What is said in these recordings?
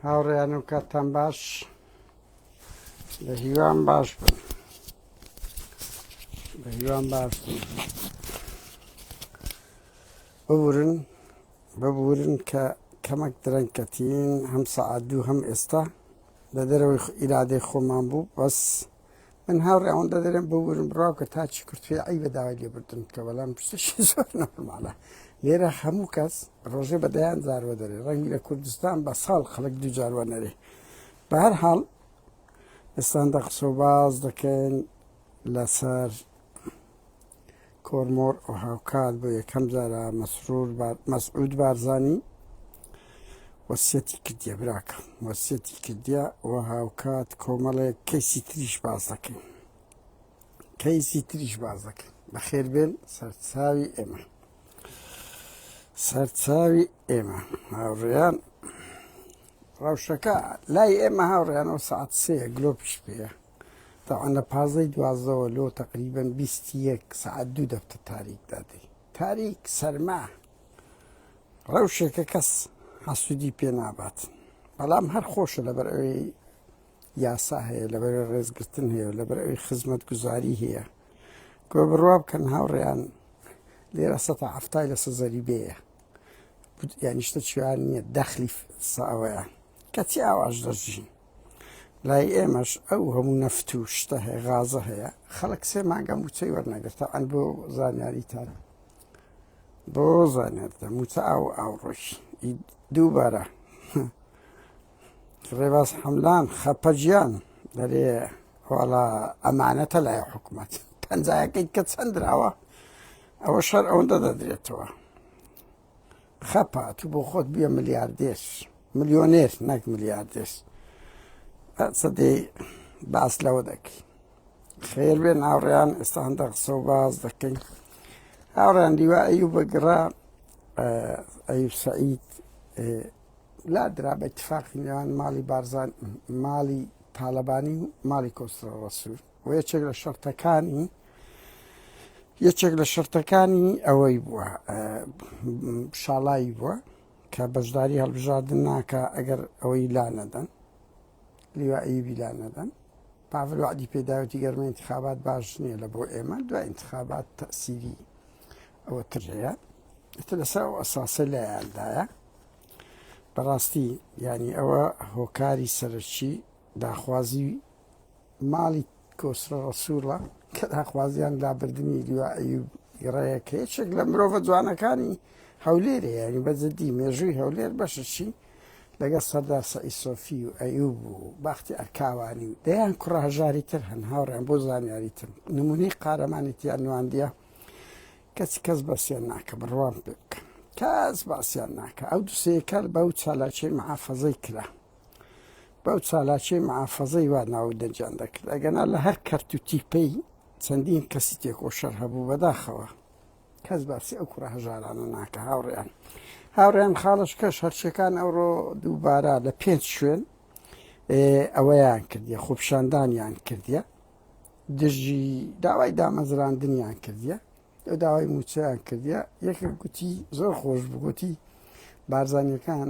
هاوڕێیان و کاتان باش لە هیوام باش بن بە هیوام باش بن ببورن ببورن کە کەمەک درەنکەتین هەم سەعات دوو هەم ئێستا لە دەرەوەی ئیرادەی خۆمان بوو بەس من هاوڕێ ئەوەندە دەرێن بۆ ورم بڕاو کە تاچی کورتێ ئەی بە داوای لێ بردن کە بەڵام پشتشی زۆر نەماڵە لێرە هەموو کەس ڕۆژێ بەدەیان زارەوە دەرێ ڕەنگی لە کوردستان بە ساڵ خەڵک دوو جاروە نەرێ بەهر حاڵ ئێستان دە قسە باز دەکەن لەسەر کۆرمۆر و هاوکات بۆ یەکەم جارە مەسرور مەسعود بارزانی وەسیەتی کردە براکە وەسیەتی کردە و هاوکات کۆمەڵێک کەیسی تریش باز دەکەین کەیسی تریش باز دەکەین بەخێر بێن سەرچاوی ئێمە سەرچاوی ئێمە هاوڕێیان ڕەوشەکە لای ئێمە هاوڕێیانەوە سعات سێ گلۆپیش پێە تەبعەن لە پازدەی دوازدەوە لۆ تەقریبەن بیست و یەک سەعات دوو دەفتە تاریک دادەی تاریک سەرما ڕەوشێکە کەس حەسوودی پێ نابات بەڵام هەر خۆشە لەبەر ئەوەی یاسا هەیە لەبەر ڕێزگرتن هەیە و لەبەر ئەوی خزمەت گوزاری هەیە گۆ بڕوا بکەن هاوڕێیان لێرە سە ئەفتای لە سەزەری بەیە یانیشتە چیان نییە دەخلی ساوەیە کەچی ئاواش دەژین لای ئێمەش ئەو هەموو نەفت و شتە هەیە غازە هەیە خەڵک سێ مانگە موچەی وەرنەگرتە ئەن بۆ زانیاریتان بۆ زانێتە موچە ئاو ئاوڕۆژ دووبارە ڕێباز حەملان خەپەجیان دەرێ واڵا ئەمانەتە لای حکوومەت پەنجایەکەی کە چەندراوە ئەوە شەر ئەوەندە دەدرێتەوە خەپە تو بۆ خۆت بیە ملیاردێر ملیۆنێر نەک ملیاردێر سەدەی باس لەوە دەکەی خێر بێ ناوڕیان ئێستا هەندە قسە و باز دەکەین هاوڕیان دیوا ئەیو بەگڕا ئەیو سعید لا درا بە اتفاقی نێوان ماڵی بارزان ماڵی تاالبانی و ماڵی کۆسرە ڕسوور وە یەکێک لە شەرتەکانی یەکێک لە شەرتەکانی ئەوەی بووە شاڵایی بووە کە بەشداری هەڵبژاردن ناکە ئەگەر ئەوەی لا نەدەن لیوایی بیلا نەدەن پاڤل وعدی پێداوەتی گەرمە انتخابات باش نییە لە بۆ ئێمە دو انتخابات تەسیری ئەوە تر هەیە ئتە لەسا ئەو ئەساسە لایاندایە بەڕاستی ینی ئەوە هۆکاری سەرچی داخوازی ماڵی کۆسرە ڕەسووڵە کە داخوازیان لابردنی لیوا ئەیوب گڕەیە کە یەکێک لە مرۆڤە جوانەکانی هەولێرێ یاری بەجددی مێژووی هەولێر بەششی لەگەڵ سەردار سەعی سۆفی و ئەیوب و باختی ئەرکاوانی و دەیان کوڕهژاری تر هەن هاوڕێن بۆ زانیاری تر نمونەی قارەمانی تیان نواندیە کەچ کەس بەسیان ناکە بڕوان پێ بکە کەس باسیان ناکە ئەو دوسەیەکە بەو چالاکی محافەزەی کرا بەو چالاکیەی محافەزەی وا ناو دەنگیان دەکرد ئەگەنا لە هەر کەرت و تیپەی چەندین کەسی تێکۆشەر هەبوو بەداخەوە کەس باسی ئەو کوڕە هەژارانە ناکە هاوڕیان هاوڕیان خاڵش کەش هەرچەکان ئەوڕۆ دووبارە لە پێنج شوێن ئەوەیان کردیە خۆپشاندانیان کردیە دژی داوای دامەزراندنیان کردیە ئەو داوای موچیان کردیە یەکە گوتی زۆر خۆش بگوتی بارزانیەکان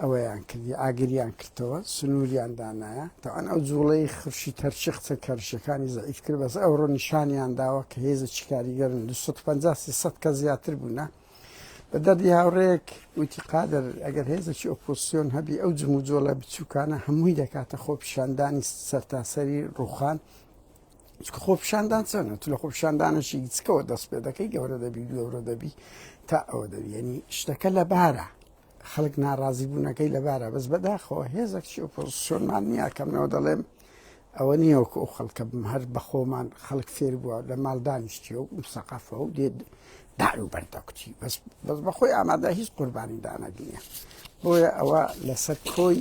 ئەوەیان کردی ئاگریان کردەوە سنووریان دانایە تاوان ئەو جوڵەی خرشی تەرچی قسە کەرشەکانی زەعیف کرد بەس ئەوڕۆ نیشانیان داوە کە هێزە چیکاریگەرن 250 کە زیاتر بوونە بە دەردی هاوڕێک وتی قادر ئەگەر هێزەکی ئۆپۆسیۆن هەبی ئەو جموجۆڵە بچووکانە هەمووی دەکاتە خۆپیشاندانی سەرتاسەری ڕوخان چکە خۆپشاندان چەنە تو لە خۆپشاندانەشی چکەوە دەست پێ دەکەی گەورە دەبی گەورە دەبی تا ئەوە دەبیێنی شتەکە لە بارە خەڵک ناڕازی بوونەکەی لەبارە بەس بەداخەوە هێزەک چی ئۆپۆزیسیۆنمان نییە کەمنەوە دەڵێم ئەوە نییەوەکو ئەو خەڵکە بم هەر بەخۆمان خەڵک فێر بووە لە ماڵ دانیشتی و سەقافە و دێت دار و بەردەکوتی بەس بەس بەخۆی ئامادە هیچ قوربانی دانەگرە بۆیە ئەوە لەسەر کۆی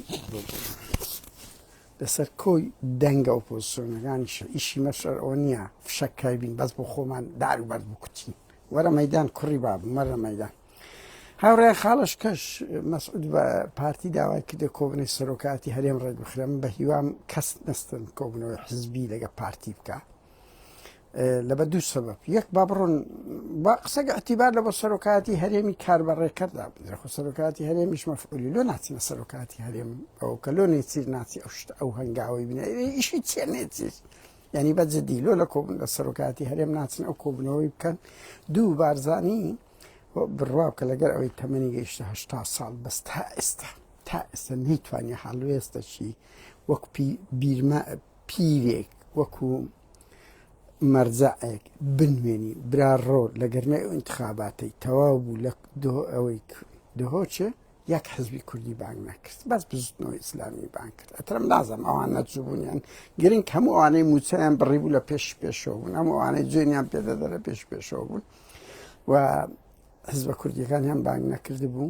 لەسەر کۆی دەنگە ئۆپۆزسیۆنەکانیش ئیشی مەشەر ئەوە نییە فشەک کایبین بەس بۆ خۆمان دار و بەرد بکوتین وەرە مەدان کوڕی باب مەرە مەدان هاوڕێ خاڵش کەش مەسعود بە پارتی داوای کردە کۆبنەی سەرۆکاتی هەرێم ڕێگوخرم بە هیوام کەس نستن کۆبنەوەی حزبی لەگە پارتی بکە لەبە دوو سەبب یەک با بڕۆن با قسەگە ئەتیبار لە بۆ سەرۆکاتی هەرێمی کار بە ڕێکەردا بدرخۆ سەرۆکاتی هەرێمیش مەفعولی لۆ ناچینە سەرۆکاتی هەرێم ئەو کە لۆ نێچیر ناچی ئەو شت ئەو هەنگاوی بنێ ئیشی چێ نێچیر ینی بە جدی لۆ لە کۆبن لە سەرۆکاتی هەرێم ناچن ئەو کۆبنەوەی بکەن دوو بارزانانی بڕوا کە لەگەر ئەوەی تەمەنی گەیشتهشتا ساڵ بەس تا ئێستا تا ئێستا نەیتوانانی حاڵوێستەشی وەک بیرمە پیرێک وەکو مەرجەعێک بنوێنی برا ڕۆ لە گەرمەی ئینتخاباتەی تەواو بوو لە ئەوەی دهۆچێ یەک حزبی کوردی بانگ نەکرد بەس بزنەوە ئیسلامی بان کرد ئەترم نازم ئەوان نەجوبوونیان گرنگ هەموو ئەوانەی موچەیان بڕی بوو لە پێش پێشەوە بوون هەموو ئەوانەی جوێنیان پێدەدە لە پێش پێشەوە بوون و حزبە کوردیەکان هەم بانگ نەکرد بوو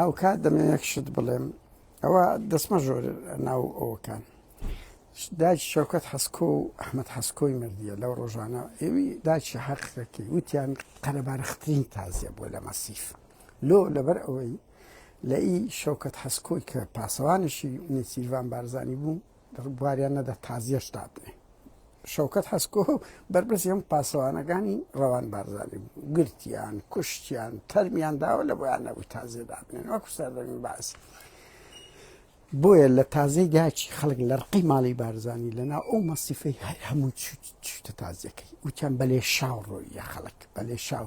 هاوکات دەمەوێت یەک شت بڵێم ئەوە دەسمە ژۆر ناو ئەوەکان داچ شەوکەت حەسکۆ و ئەحمد حەسکۆی مردیە لەو ڕۆژانە ئێوی داچی حەقەکەی وتیان قەرەبارخترین تازیە بۆ لە مەسیف لۆ لەبەر ئەوەی لە ئی شەوکەت حەسکۆی کە پاسەوانشی نێچیرڤان بارزانانی بوو بواریان نەدا تازیەش دابنێ شەوکەت حەسکۆ و بەرپرسی هەم پاسەوانەکانی ڕەوان بارزانانی بوو گرتیان کوشتیان تەرمیان داوە لە بۆیان نەبوو تازێ دابنێن وەکو سەردەمی باس بۆیە لە تازەی داچی خەڵک لە ڕقی ماڵی بارزانانی لەنا ئەو مەسیفەی هەر هەموو چوتە تازیەکەی وتیان بەلێ شاو ڕۆیە خەڵک بەلێ شاو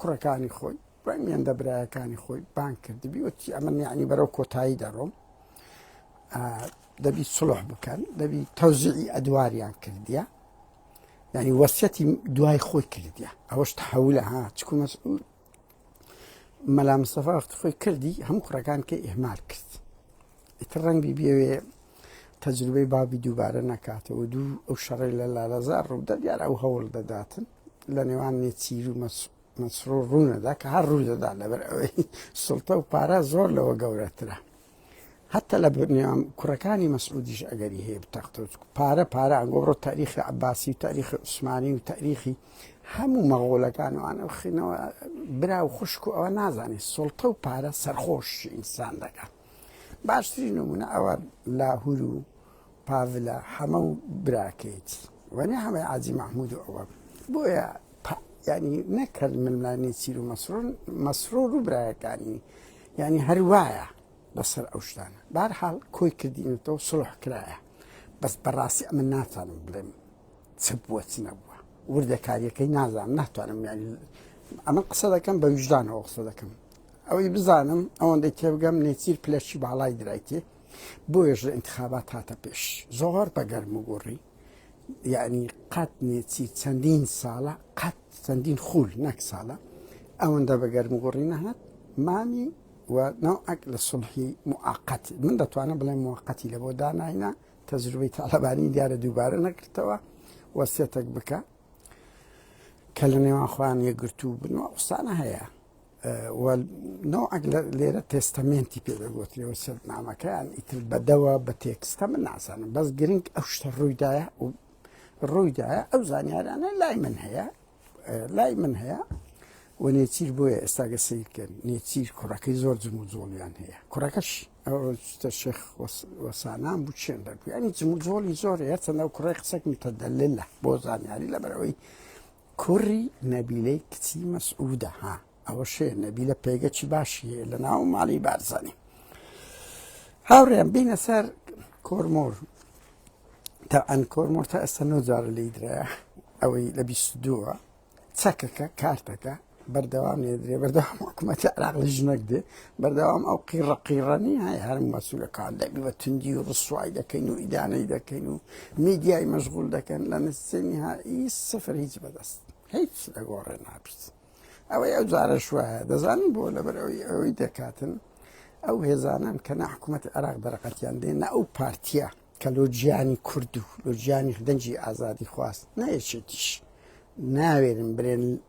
کوڕەکانی خۆی دوای مێندە برایەکانی خۆی بان کردبی وتی ئەمە نیعنی بەرەو کۆتایی دەڕۆم دەبی سڵح بکەن دەبی تەوزیعی ئەدواریان کردیە ینی وەسیەتی دوای خۆی کردیە ئەوەش تحولە ها چکو مەسئول مەلا مستەفا وەختفۆی کردی هەموو کوڕەکان کە ئهمال کرد ئیتر ڕەنگی بێوێ تەجروبەی بابی دووبارە نەکاتەوە دوو ئەو شەڕی لە لالەزار ڕوودە دیار ئەو هەوڵ دەداتن لە نێوان نێچیر و مەسرور ڕوونەدا کە هەر ڕوودەدا لەبەر ئەوەی سڵتە و پارە زۆر لەوە گەورەترە حتى لە بنیام کوڕەکانی مەسعودیش ئەگەری هەیە بتەخت پارە پارە ئەنگۆڕۆ تاریخی عباسی و تاریخی عوسمانی و تاریخی هەموو مەغۆلەکان و ئەو خینەوە برا و خوشک و ئەوە نازانێت سڵتە و پارە سەرخۆش ئینسان دەکات باشترین نمونە ئەوە لاهور و پاڤلە حەمە و براکەیت وەنێ هەمەی عجی مححمود و ئەوە بۆیە ینی نەکرد ململانی چیر و مەسرون مەسرۆر و برایەکانی ینی هەروایە لەسەر ئەو شتانە بارحاڵ کۆی کردینەوە سڵح کرایە بەس بەڕاستی ئەمە ناتوانم بڵێم چ بووە چ نەبووە وردەکاریەکەی نازانم ناتوانم ینی ئەمە قسە دەکەم بە ویژدانەوە قسە دەکەم ئەوەی بزانم ئەوەندەی تێبگەم نێچیر پلەشی باڵای درایتێ بۆیش لە انتخابات هاتە پێش زۆر بەگەرم و گۆڕی یعنی قەت نێچی چەندین ساڵە قەت چەندین خول نەک ساڵە ئەوەندە بەگەرم و گۆڕی نەهات مامی و ناوعک لە سڵحی موعقەت من دەتوانم بڵێ موقەتی لە بۆ داناینا تەجروبەی تاالبانی دیارە دووبارە نەکردەوە وەسیەتەک بکە کە لە نێوان خۆیان یەکگرتوو بنەوە قسانە هەیە نەوعەک لێرە تێستەمێنتی پێ دەگوترێەوە سەرنامەکەیان ئیتر بەدەوە بە تێکستە من نازانم بەس گرنگ ئەو شتە ڕوویدایە و ڕوویدایە ئەو زانیارانە لای من هەیە لای من هەیە و نێچیر بۆیە ئێستاگە سیرکەن نێچیر کوڕەکەی زۆر جم و جۆڵیان هەیە کوڕەکەش ئەوتە شێخ وەسانان بوو چێن دەگویانی جم و جۆڵی زۆر هەیە چەندە کوڕی قسەک متەدەللە بۆ زانیاری لەبەرەوەی کوڕی نەبیلەی کچی مەسعودە ها ئەوە شێ نەبیلە پێگەچی باشیە لە ناو ماڵی بارزانانی هاوڕێن بینە سەر کۆرمۆر تا ئەن کۆرمۆر تا ئێستا نۆجارە لی درایە ئەوەی لە بیست دووە چەکەکە کارتەکە بەردەوام نێدرێ بەردەوام حکوومەتی عراق لە ژنەک دێ بەردەوام ئەو قیڕە قیڕەنی های هەر مەسوولەکان دەبی بە توندی و ڕسوای دەکەین و ئیدانەی دەکەین و میدیای مەشغول دەکەن لە نسێنی هایی سفر هیچ بەدەست هیچ لەگۆڕێ نابیت ئەوەی ئەو جارە شوایە دەزانین بۆ لەبەر ئەوی ئەوەی دەکاتن ئەو هێزانان کە نە حکوومەت عراق دەرەقەتیان دێ نە ئەو پارتیە کە لۆجیانی کورد و لۆجیانی دەنجی ئازادی خواست نەیەچێتیش ناوێرن برێن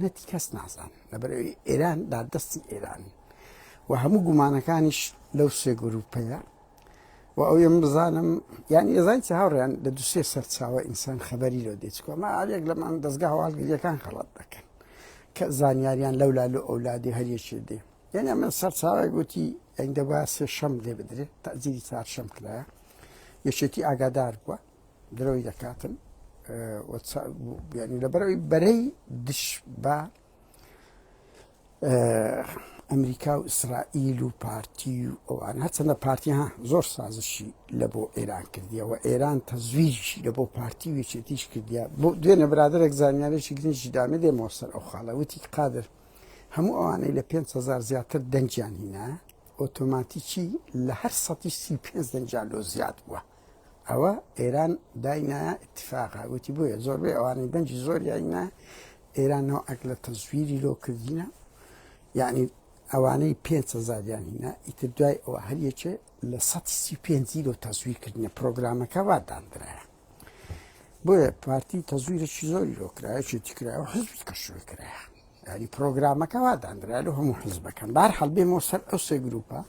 نەتی کەس نازان لەبەرەوەی ئێران دا دەستی ئێران و هەموو گومانەکانیش لەو سێ گروپەیە و ئەو یم بزانم یان ئێزان چ هاوڕیان لە دوسێ سەرچاوە ئینسان خەبەری لۆ دێچکۆمە ئاێک لەمان دەستگا هەواڵگریەکان خەڵات دەکەن کە زانیاریان لەو لا لە ئەولادی هەریەکی دێ یعنی ئەمە سەرچاوی گوتی ئەنگدەبا سێ شەم لێ بدرێت تازیری چار شەم کرایە یەکێتی ئاگادار بووە درۆی دەکاتن لەبەرەوەی بەرەی دش بە ئەمریکا و ئیسرائیل و پارتی و ئەوان هەچەندە پارتی ها زۆر سازشی لە بۆ ئێران کردیەوە ئێران تەزویشی لە بۆ پارتی وێچێتیش کردیا بۆ دوێنە برادێک زانیارێکی گرنجی دامە دێ مۆسەر ئەو خاڵەوەتی قادر هەموو ئەوانەی لە 500هزار زیاتر دەنجیان هینا ئۆتۆماتیکی لە هەر سەتی سی پێ دەنجان لۆ زیاد بووە ئەوە ئێران داینا اتفاقا وتی بۆیە زۆربەی ئەوانەی دەنجی زۆر یاینا ئێران نەوە ئەک لە تەزویری لۆ کردینە یعنی ئەوانەی پێزاریان هینا ئیتر دوای ئەوە هەریەکێ لە 135 لۆ تەزویر کردنە پرۆگرامەکە واداندرایە بۆیە پارتی تەزویرێکی زۆری لۆکرایەکی تیکرا و حزبی کەشوی کرایە ینی پرۆگرامەکە واداندرا لە هەموو حزبەکەم بار هەڵبێ مۆسەر ئەو سێ گروپە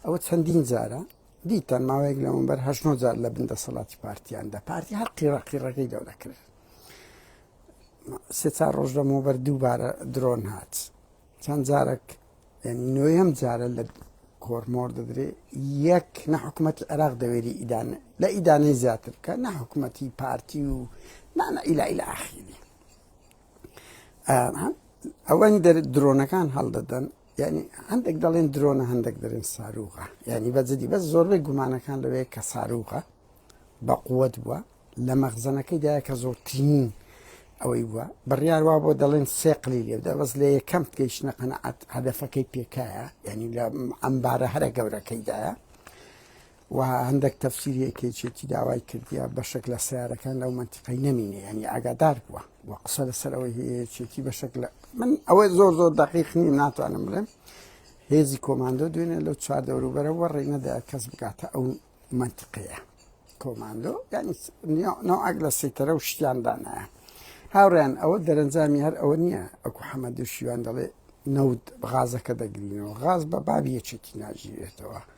ئەوە چەندین جارە دیتان ماوەیەک لەمەوبەر هەشت نۆ جار لە بن دەسەڵاتی پارتییاندا پارتی هەر قیڕە قیڕەکەی گەورە کرد سێ چار ڕۆژ لەمەوبەر دووبارە درۆن هات چەند جارێک یعنی نوێم جارە لە کۆرمۆر دەدرێ یەک نە حکوومەتی عێراق دەوێری ئیدانە لە ئیدانەی زیاتر بکە نە حکوومەتی پارتی و نانە ئیلا ئیلا ئاخیری ئەوەنی دەر درۆنەکان هەڵدەدەن یانی هەندێک دەڵێن درۆنە هەندێک دەرێن ساروغە یعنی بە جدی بەس زۆربەی گومانەکان لەوەیە کە ساروغە بە قووەت بووە لە مەخزەنەکەی دایە کە زۆرترین ئەوەی بووە بڕیار وا بۆ دەڵێن سێقلی لێدا بەس لە یەکەم گەیشتە قەنەعات هەدەفەکەی پێکایە یعنی لە ئەمبارە هەرە گەورەکەیدایە و هەندەک تەفسیری ئەکەیچێتی داوای کردیە بەشێک لە سیارەکان لەو منتیقەی نەمینێ ینی ئاگادار بووە و قسە لەسەر ئەوەی هەیەچێتی بەشێک لە من ئەوەی زۆر زۆر دەقیقنی ناتوانم بڵێم هێزی کۆماندۆ دوێنێ لەو چوار دەوروبەرە وەڕێ نەدا کەس بگاتە ئەو منتیقەیە کۆماندۆ ینی ناوعک لە سیتەرە و شتیاندانایە هاوڕیان ئەوە دەرەنجامی هەر ئەوە نییە ئەکو حەمەدو شیوان دەڵێ نەوت غازەکە دەگرینەوە غاز بە بابیەچێتی ناژیرێتەوە.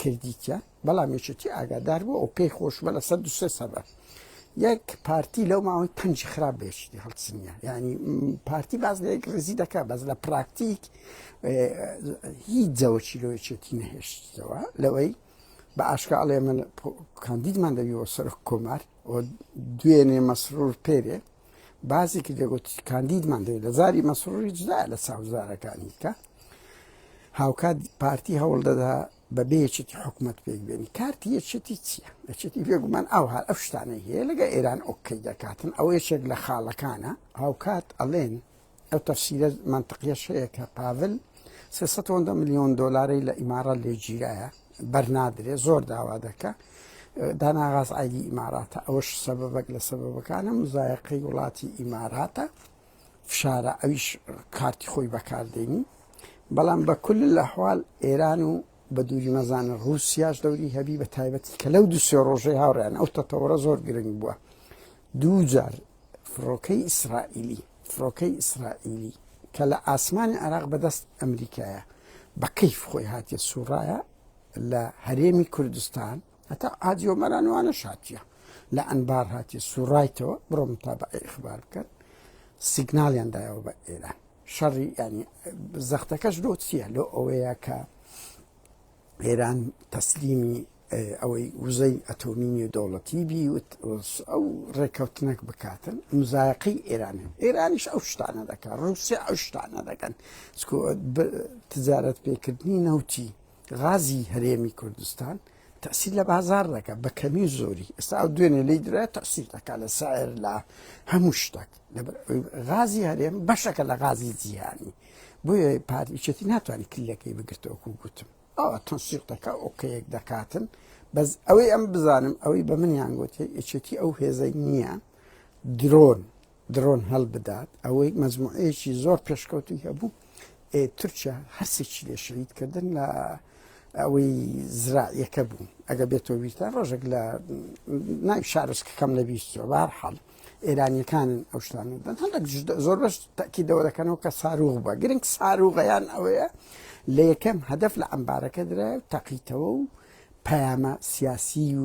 کردیتە بەڵام یەکێتی ئاگادار بوو ئەو پێی خۆشمە لە سەد دوسێ سەبە یەک پارتی لەو ماوەی پنج خراپ بێشتی هەڵچنیە ینی پارتی باز لە یەک ڕێزی دەکات بەس لە پراکتیک هیچ جەوەکی لۆچێتی نەهێشتەوە لەوەی بە ئاشکاڵێ من کاندیدمان دەبیەوە سەر کۆمار دوێنێ مەسرور پێرێ بازێکی دەگوت کاندیدمان دەوێت لە زاری مەسرور هیچدا لە ساوزارەکانی کە هاوکات پارتی هەوڵ دەدا بەبێ یەکێتی حکومەت پێک بێنی کارتی یەکێتی چییە یەکێتی بێگومان ئەو هەر ئەو شتانەی هەیە لەگە ئێران ئۆکەی دەکاتن ئەو یەکێک لە خاڵەکانە هاوکات ئەڵێن ئەو تەفسیرە منطقیەش هەیە کە پاڤل 300 میلیۆن دلاری لە ئیمارە لێگیرایە بەرنادرێ زۆر داوا دەکە داناغاز ئایدی ئیماراتە ئەوش سەبەبەک لە سەبەبەکانە مزایقی وڵاتی ئیماراتە فشارە ئەویش کارتی خۆی بەکاردێنی بەڵام بە کل لە حواال ئێران و بە دووری مەزانە رووسیاش دەوری هەبی بە تایبەتی کە لەو دوسێ ڕۆژەی هاوڕیان ئەو تەتەوەڕە زۆر گرنگ بووە دوو جار فڕۆکەی ئیسرائیلی فڕۆکەی ئیسرائیلی کە لە ئاسمانی عراق بەدەست ئەمریکایە بە کەیف خۆی هاتیە سوڕایە لە هەرێمی کوردستان هەتا حاجی ئۆمەران وانە شاتیە لە ئەنبار هاتیە سوڕایتەوە بڕۆ متابعی ئیخبار بکەن سیگنالیان دایەوە بە ئێران شەڕی ینی زەختەکەش لۆ چییە لۆ ئەوەیە کە ئێران تەسلیمی ئەوەی وزەی ئەتۆمی و دەوڵەتی بی ئەو ڕێککەوتنەک بکاتن مزایقی ئێران ئێرانیش ئەو شتانە دەکات ڕوسیا ئەو شتانە دەکەن تجارەت پێکردنی نەوتی غازی هەرێمی کوردستان تەسیل لە بازار دەکە بە کەمی و زۆری ئێستا ئەو دوێنێ لی درا تەسیل دەکا لە سایر لە هەموو شتێک غازی هەرێم بەشەکە لە غازی جیهانی بۆیە پارچێتی ناتوانانی کلیلەکەی بگرتەوەکو گوتم ئەوە تەسیق دەکە ئۆکەیەک دەکاتن بەس ئەوەی ئەم بزانم ئەوەی بە منیان گوتی ئەچێتی ئەو هێزەی نییە درۆن درۆن هەلبدات ئەوەی مەزموعەیەکی زۆر پێشکەوتوی هەبوو تورکیا هەرسێکی لێ شەید کردن لە ئەوەی زراعیەکە بوو ئەگە بێتەوە ویستان ڕۆژێک لە نای شارسکەکەم لە بیستەوە بار حاڵ ئێرانیەکانن ئەو شتان دەن هەندێک زۆر بەش تاکیدەوە دەکەنەوە کە ساروغ بە گرنگ ساروغیان ئەوەیە لە یەکەم هەدف لە ئەمبارەکە درای و تەقیتەوە و پەیامە سیاسی و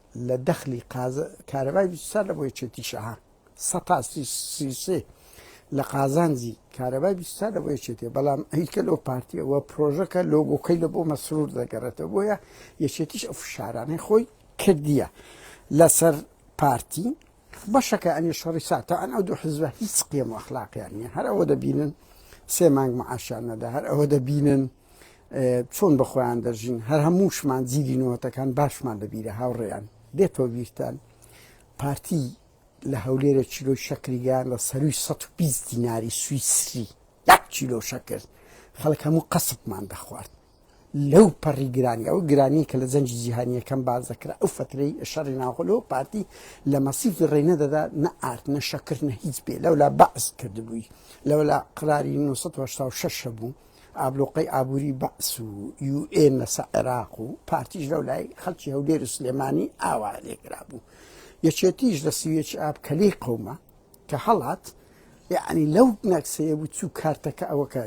لە دەخلی قازە کارەبای سەر لە بۆ یەکێتی شەها سەتا سیسێ لە قازانجی کارەبای بیستا لە بۆ یەکێتێ بەڵام ئەیکە لەو پارتیەوە پرۆژەکە لۆگۆکەی لە بۆ مەسرور دەگەڕێتە بۆیە یەکێتیش ئەو فشارانەی خۆی کردیە لەسەر پارتی بەشەکە ئەنی شەڕی ساتە ئەن ئەو دوو حزبە هیچ قێم و ئەخلاقیان نیە هەر ئەوە دەبینن سێ مانگ معاشان نەدا هەر ئەوە دەبینن چۆن بە خۆیان دەژین هەر هەمووشمان جیدی نوەتەکان باشمان لەبیرە هاوڕێیان دێتەوە بیرتان پارتی لە هەولێرە چیلۆی شەکریگەیان لە سەروی 120 دیناری سویسری یەک چیلۆ شەکرد خەڵک هەموو قەسبمان دەخوارد لەو پەڕی گرانی ئەو گرانی کە لە جەنجی جیهانیەکەم باز دەکرا ئەو فترەی شەڕی ناوخۆلەوە پارتی لە مەسیفی ڕێنە دەدا نە ئارد نە شەکرد نە هیچ بێ لەولا بەعس کردبووی لەولا قراری 1970 شەش بوو ئابلوقەی ئابوری بەعس و یو ئێ مەسە عێراق و پارتیش لەو لای خەلکی هەولێر و سلێمانی ئاوا لێکرابوو یەکێتیش لە سویەکی ئاب کەلی قومە کە هەڵات یعنی لەو نەکسەیە بوو چوو کارتەکە ئەوەکە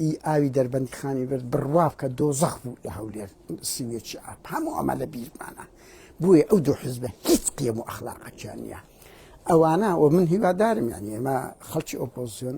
ئی ئاوی دەربەندی خانی برد بڕواب کە دۆزەخ بوو لە هەولێر سویەکی ئاب هەموو ئەمە لە بیرمانە بووە ئەو دوو حزبە هیچ قیەم و ئەخلاقەکیان نیە ئەوانە و من هیوادارم یان ئێمە خەڵکی ئۆپۆزیۆن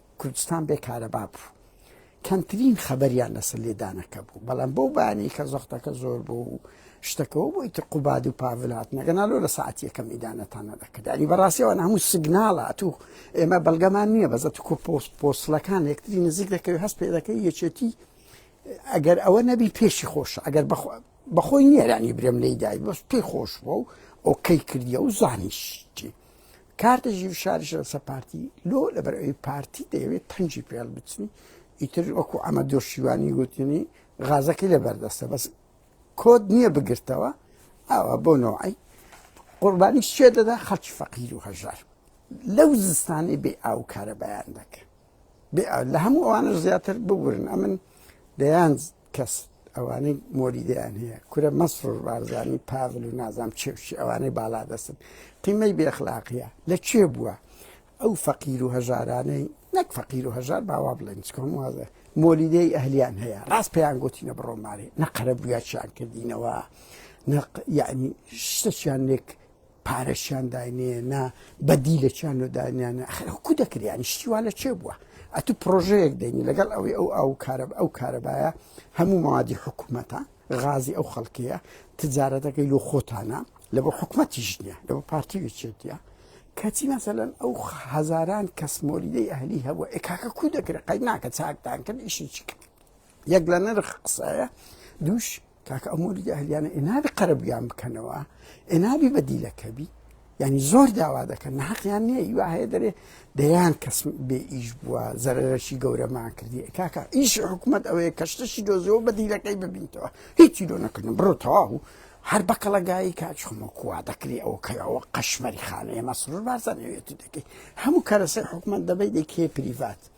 کوردستان بێ کارەبا بوو کەمترین خەبەریان لەسەر لێدانەکە بوو بەڵام بەو بانی کە زەختەکە زۆر بوو و شتەکەەوە بۆی تر قوباد و پاڤلات نەگەناالۆ لە ساعتیەکەم ئیدانەتانە دەکردنی بەڕاستیەوە هەموو سگناڵە تو ئێمە بەڵگەمان نییە بەزە تو کۆ پۆست پۆستلەکان یەکتری نزیک دەکەوی هەست پێ دەکەی یەکێتی ئەگەر ئەوە نەبی پێشی خۆش ئەگەر بەخۆی نیێرانی برێم لێدای بەس پێی خۆش بوو و ئۆکەی کردیە و زانیشتی کارتە ژیر شارش لەسە پارتی لۆ لەبەر ئەوی پارتی دەیەوێت پەنجی پێڵ بچنی ئیتر وەکو ئەمە دۆشیوانی گوتنی غازەکە لە بەردەستە بەس کۆت نییە بگرتەوە ئاوا بۆ نەوەی قوربانی شێ دەدا خەڵکی فەقیر و هەژار لەو زستانی بێ ئاو کارە بەیان دەکە لە هەموو ئەوانش زیاتر ببورن ئەمن دەیان کەس ئەوانەی مۆریدیان هەیە کورە مەسرور بارزانانی پاڤل و نازام چێوشی ئەوانەی بالا دەستن قیمەی بێخلاقیە لە چێ بووە ئەو فەقیر و هەژارانەی نەک فەقیر و هەژار باوا بڵێن چکۆم وازە مۆلیدەی ئەهلیان هەیە ڕاست پێیان گوتینە بڕۆمارێ نەقەرە بگاچیان کردینەوە نەق یعنی شتەچیان لێک پارەشیان داینێ نا بەدی لە چیان و دانیان ئەخرکو دەکریانی شتیوا لە چێ بووە ئەتو پرۆژەیەک دێنی لەگەڵ ئەوی ئەو ئەو کارە ئەو کارەبایە هەموو مادی حکوومەتە غازی ئەو خەڵکەیە تجارەتەکەی لۆ خۆتانە لە بۆ حکوومەتیش نییە لە بۆ پارتیوی چێتە کەچی مەسەلەن ئەو هزاران کەس مۆریدەی ئەهلی هەبووە ئێکاکە کو دەکرێت قەی ناکە چاکتان کرد ئیشی چکرد یەک لە نرخ قسایە دوش کاکە ئەو مۆلیدە هەلیانە ئێنابی قەرەبیان بکەنەوە ئێنابی بەدیلەکەبی ینی زۆر داوا دەکەن ناقیان نییە وا هەیە دەرێ دەیان کەس بێ ئیش بووە زەرەرەشی گەورەمان کردی کاکە ئیش حکوومەت ئەوەیە کەشتەشی دۆزیەوە بەدیلەکەی ببینتەوە هیچی لۆ نەکردن بڕۆ تەواو و هەر بەکەڵەگایی کاچخمە کوا دەکری ئەو کەەوە قەشمەری خانەیە مەسرور بارزانەوێتی دەکەیت هەموو کەرەسەر حکومت دەبیت دەکێ پریڤات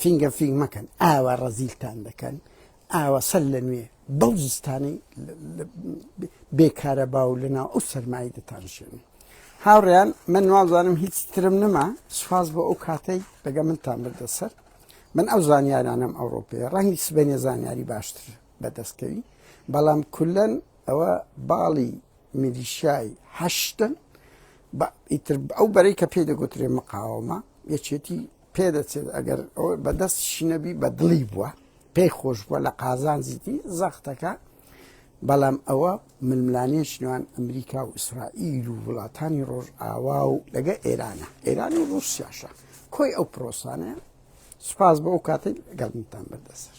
فینگە فینگ مەکەن ئاوا ڕەزیلتان دەکەن ئاوا سەر لە نوێ بەو زستانەی بێکارە باو لەناو ئەو سەرمایی دەتانشێن هاوڕیان من نازانم هیچ ترم نما سوپاس بۆ ئەو کاتەی دەگە منتان بردە سەر من ئەو زانیارانم ئەوڕۆپی ڕەنگی سبێنێ زانیاری باشتر بەدەستکەوی بەڵام کولەن ئەوە باڵی میلیشای هەشتن ئیتر ئەو بەرەی کە پێی دەگوترێ مقاومە یەکێتی پێدەچێت ئەگەر بەدەست شینەبی بە دڵی بووە پێی خۆش بووە لە قازانجیتی زەختەکە بەڵام ئەوە ململانێش نێوان ئەمریکا و ئیسرائیل و وڵاتانی ڕۆژ ئاوا و لەگە ئێرانە ئێران و ڕوسیاشە کۆی ئەو پرۆسانە سپاس بۆ ئەو کاتی گەڵنتان بەردەسەر